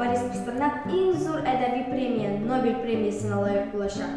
Борис Пастернак иң зур әдәби премия, Нобель премиясенә лаек булачак.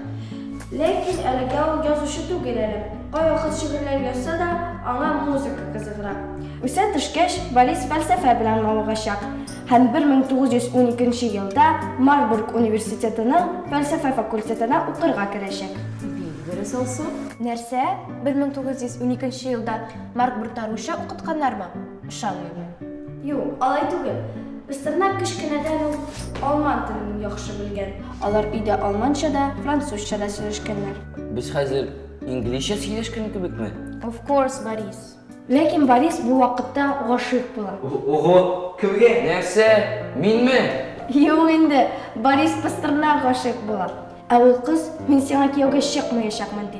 Ләкин әлегә ул язучы түгел әле. Кайвакыт шигырьләр язса да, аңа музыка кызыгыра. Үсә төшкәч, Борис фәлсәфә белән мавыгачак һәм 1912 елда Марбург университетының фәлсәфә факультетына укырга керәчәк. Бик дөрес алсу. Нәрсә? 1912 елда Марк Брутаруча укытканнармы? Ышанмыйм. Юк, алай түгел. Пастернак кечкенәдән үк алман телен яхшы белгән. Алар өйдә алманча да, французча да сөйләшкәннәр. Без хәзер инглизчә сөйләшкән кебекме? Of course, Борис. Ләкин Борис бу вакытта гашыйк була. Ого, кемгә? Нәрсә? Минме? Юк инде, Борис Пастернак гашыйк була. Ә ул кыз, мин сиңа кияүгә чыкмаячакмын, ди.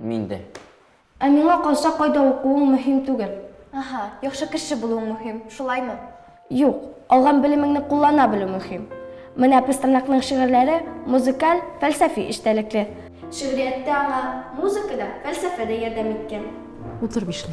Мин дә. Ә миңа калса, кайда укуың мөһим түгел. Аһа, яхшы кеше булуың мөһим, шулаймы? Юк, алган белемеңне куллана белү мөһим. Менә Пастернакның шигырьләре музыкаль, фәлсәфи эчтәлекле. Шигърияттә аңа музыка да, фәлсәфә дә ярдәм иткән. Утыр бишле.